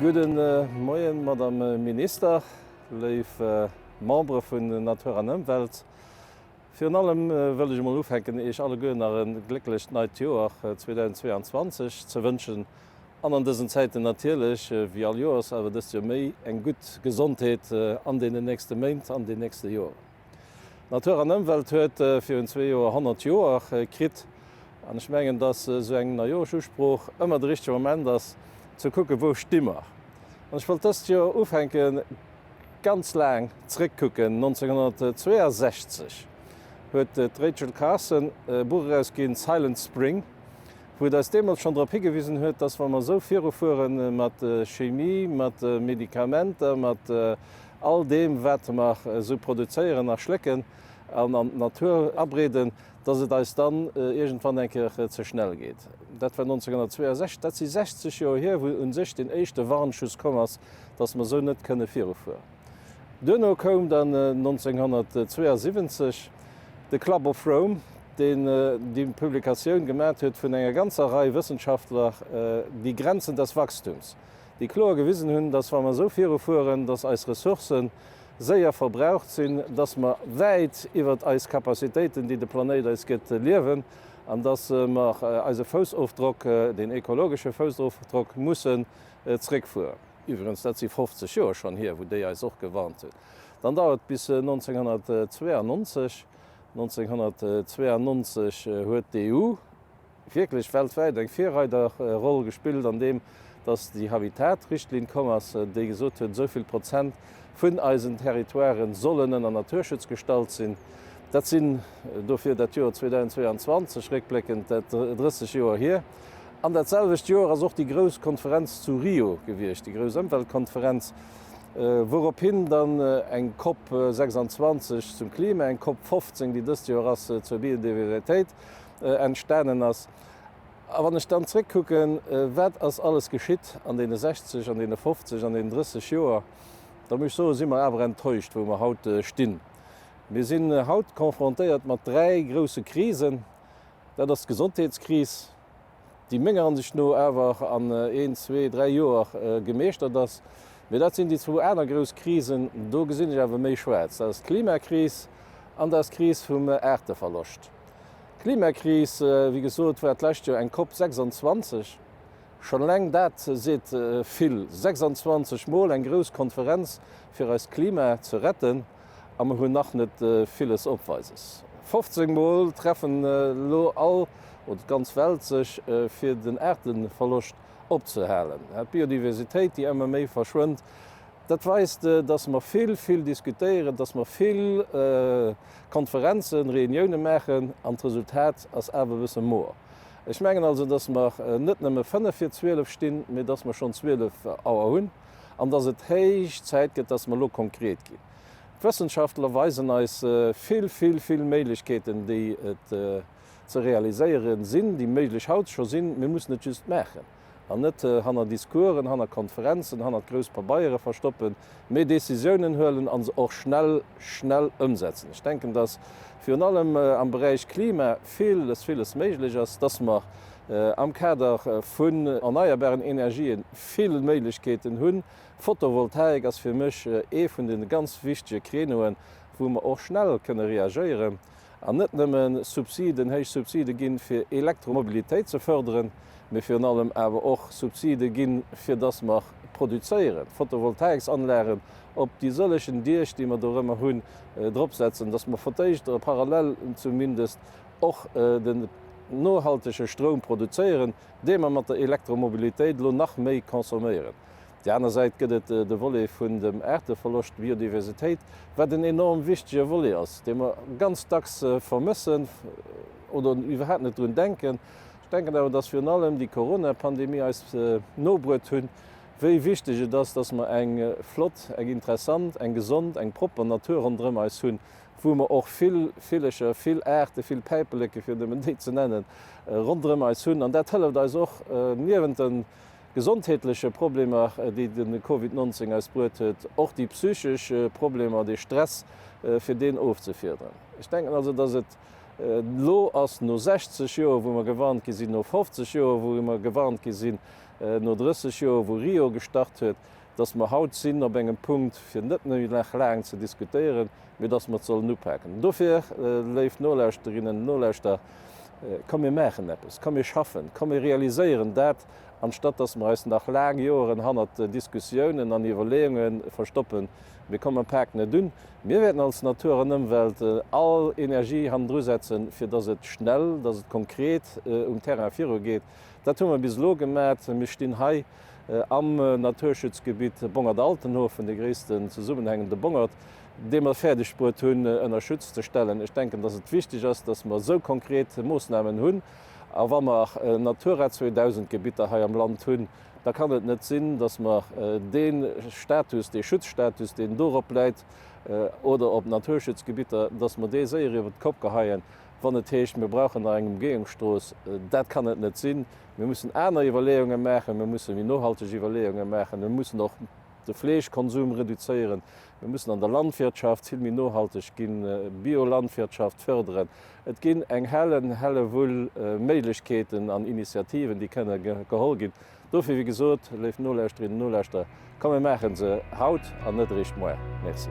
Gudde Moien, Madame Minister, léif Membere vun Natur an Ëmwelt. Virun allem wëll ech emol ufänken, Iech alleguer nach e glécklecht neit Joer 2022 ze wënschen an an dësen Zäiten natierlech, wéi all Joers, awer dëst Joer méi eng gutt Gesondheet an deenen nächste Méint, an den nächste Joren. Natur an Ëmwelt huet virun zwee Joer 100 Joer kritt an ech mengen, datt esou eng Neijooschusprooch ëmmer de richtege Moment ass, ze kucke wou sti mer. An ech wollt dëst Joer ufänke ganz laang zréckkucken. 1962 huet d'Rachel Carson e Buch erausginn, Silent Spring, wou et eis deemools schonn drop higewisen huet, datt wa mer esou virufuere mat Chemie, mat Medikamenter, mat all deem wat mer esou produzéieren a schlécken an an d'Natur abreeden, datt et eis dann iergendwann eng Kéier ze schnell geet. Dat war 1962, dat si 60 Joer hier, wou u sech deen éischte Warnschuss komm ass, datt mer esou net kënne virufueren. Duerno koum dann 1972 de Club of Rome, deen déi Publikatioun gemat huet vun enger ganzer Rei Wëssenschaftler, Die Grenzen des Wachstums. déi kloer gewisen hunn, dass wa mer esou viru fueren, dass eis Ressourcë séier verbraucht sinn, dass mer wäit iwwert eis Capacitéiten, déi de Planéit eis gëtt, liewen an dass mer eise Foussofdrock, deen ekologesche Foussofdrock, mussen zréckfueren. Iwwregens, dat si 50 Joer schonn hier, wou déi eis och gewarnt hunn. Dann dauert et bis 1992. 1992 huet d'EU wierklech weltwäit eng Virreiderroll gespillt an deem, datt déi Habitat-Richtlinn komm ass, déi gesot huet, esou vill Prozent vun eisen Territoirë sollen ënner Naturschutz gestallt sinn. Dat sinn dofir dat Joer 2022 réckbléckend dat 30 Joer hier. An dat selwecht Joer ass och déi grouss Konferenz zu Rio gewiescht, déi grouss Ëmweltkonferenz, wourophin dann eng COP 26 zum Klima, eng COP 15, déi dëst Joer ass, zur Biodiversitéit, entstanen ass. A wann ech dann zréckkucken, wat ass alles geschitt an deene 60, an deene 50, an deenen 30 Joer, da muss ech soen, si mer awer enttäuscht, wou mer haut stinn. Mir sinn haut confrontéiert mat dräi grouse Krisen. Dat ass d'Gesondheetskris, déi menger Ansicht no awer an een, zwee, dräi Joer gemeeschtert ass. Mee dat sinn déi zwou aner grouss Krisen, do gesinn ech awer méi schwaarz. Dat ass d'Klimakris an dat ass d'Kris vum Aarteverloscht. D'Klimakris, wéi gesot, war d'lescht Joer eng Cop 26. Schonn eleng dat seet vill, 26 Mol eng grouss Konferenz fir eist Klima ze retten, a mer hunn nach net villes Opweises. 15 Mol treffen elo all oder d'ganz Welt sech fir den Aarteverloscht opzehalen, d'Biodiversitéit, déi ëmmer méi verschwënnt. Dat weist, dass mer vill, vill diskutéieren, dass mer vill Konferenzen, Reuniounen maachen, an d'Resultat ass awer e bësse moer. Ech mengen also, dass mer net nëmme fënnef vir zwielef stinn, mee dass mer schonn zwielef Auer hunn an dass et héich Zäit gëtt, dass mer elo konkret ginn. D'Wëssenschaftler weisen eis vill, vill, vill Méiglechkeeten, déi et ze realiséiere sinn, déi méiglech haut scho sinn. Mir mussen et just maachen. an net hanner Discoursen, hanner Konferenzen, hanner grouss Pabeiere verstoppen, mee Décisiounen huelen a se och schnell, schnell ëmsetzen. Ech denken, dass virun allem am Beräich Klima viles, viles méiglech ass, dass mer am Kader vun erneierbaren Energië vill Méiglechkeeten hunn. Photovoltaik ass fir mech ee vun de ganz wichtige Créneauen, wou mer och schnell kënne reagéieren. An net nëmme Subsiden, héich Subside gi fir Elektromobilitéit ze fërderen, mee virun allem awer och Subside gi fir dass mer produzéieren, Photovoltaïksanlagen op déi sëllegen Diech, déi mer do rëmmer hunn, dropsetzen, dass mer fir d'éischt parallel zumindest och den nohaltege Stroum produzéieren, dee mer mat der Elektromobilitéit elo nach méi consomméieren. der aner Säit gëtt et de Volet vun dem Aarteverloscht, Biodiversitéit, wat en enorm wichtege Volet ass, dee mer ganz dacks vermëssen oder iwwerhaapt net drun denken. Ech denken awer, dass virun allem déi Corona-Pandemie eis nobruet hunn, wéi wichteg et ass, dass mer eng flott, eng interessant, eng gesond, eng propper Natur ronderëm eis hunn, wou mer och vill Villecher, vill Aarte, vill Päipeleke, fir nëmmen déi ze nennen, ronderëm eis hunn. An dat hëlleft eis och, niewent den. gesondheetleche Problemer, déi de Covid 19 eis bruet huet, och déi psychesch Problemer, dee Stress, fir deen ofzefiederen. Ech denken also, datt et elo ass, no 60 Joer, wou mer gewarnt gi sinn, no 50 Joer, wou mer gewarnt gi sinn, no 30 Joer, wou Rio gestart huet, datt mer haut sinn op engem Punkt, fir net méi nach laang ze diskutéieren, mee datt mer et sollen upaken. Dofir, léif Nolauschterinnen, Nolauschterer, komm mir maachen eppes, komm mir schaffen, komm mir realiséieren dat, anstatt dass mer eis nach laang Joeren hannert Diskussiounen an Iwwerleeunge verstoppen, mir kommen mam Pak net un. Mir wäerten als Natur an Ëmwelt all Energie hannendrusetzen, fir dass et schnell, dass et konkret um Terrain virugeet. Dat hu mer bis elo gemat. Mir stinn hei am Naturschutzgebitt Bongert-Altenhofen, dee gréissten zesummenhängende Bongert, dee mer fäerdegbruet hunn ënner Schutz ze stellen. Ech denken, dass et wichteg ass, dass mer esou konkret Moosnamen hunn. A wa mer Natura 2000 Gebitter hei am Land hunn, da kann et net sinn, datt mer dee Status, dee Schutzstatus, deen dorop läit oder op Naturschutzgebitter, datt mer dee séier iwwer d'Kopp geheien, wann et heescht, mir brauchen nach eng Ëmgehungsstrooss. Dat kann et net sinn. Mir mussen aner Iwwerleeunge maachen. Mir musse méi nohalteg Iwwerleeunge maachen. Mir mussen och de Fleeschkonsum reduzéieren. Mir mussen an der Landwirtschaft vill méi nohalteg ginn, Biolandwirtschaft fërderen. Et ginn eng Hellen, Hellewull Méiglechkeeten an Initiativen, déi kënne geholl ginn. Dofir, wéi gesot, léif Nolauschterinnen, Nolauschterer, komm mir maache se haut an net eréischt moar. Merci.